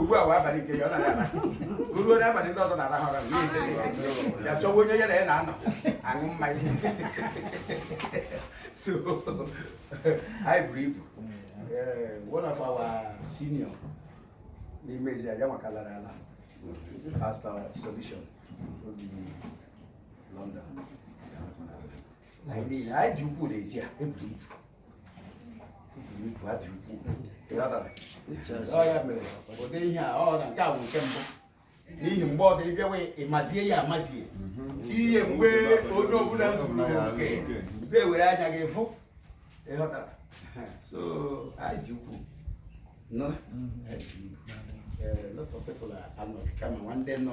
ugbu a abalị nke ya ọ na-aga ruo n'abalị ndị ọzọ na-arahụ ụra ya chọwa onye ya na ya na-anọ aṅụ mmanya so anyị buru ibu one of our senior n'ime ezi ya nwakalara ala pastor solution obi London anyị dị ukwuu n'ezie eburu ibu eburu ibu ha dị ukwuu ọ ya mere ụdị ihe a ọ na nke a bụ nke mbụ n'ihi mgbe ọ dị ịbịawa ịmazie ya amazie tinye mgbe onye ọbụla zuru nke mgbe were anya gị fụ ịghọtara so anyị dị ukwuu a lot of people anọghị kama nwanne nọ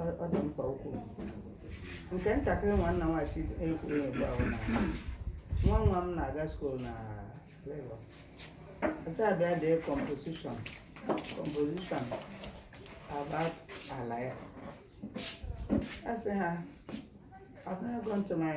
Ọ- ọ dị mkpa okwu nke ntakịrị nwanna nwachi ekwuru ugbu ahụ na nwa nwa m na-aga skuul na Lagos asị ha bịa dee composition composition about ala ya asị ha I've never gone to my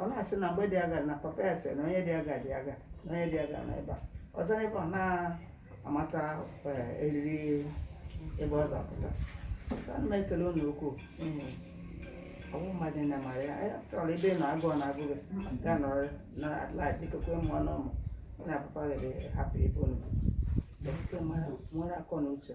ọ na-asị na mgbe dị aga na papa ya sị na onye dị aga dị aga na onye dị aga na ebe a ọzọ n'ebe ọ na-amata eh, eriri ebe ọ zapụta Sị, ana m ekele unu ukwuu n'ihi ọ bụ mmadụ na mara ya ya chọrọ ebe ị nọ agụụ na-agụ gị ga nọrọ na atlaji kokwe mụọ na ụmụ gị na papa gị hapụ ebe unu bụ. Ndị mmadụ nwere akọ na uche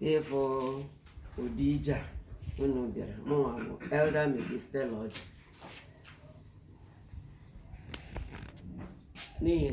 n'ịfụ ụdị ije a unu bịara mụnwa bụ Elder Mrs. Stella Ọjị n'ihi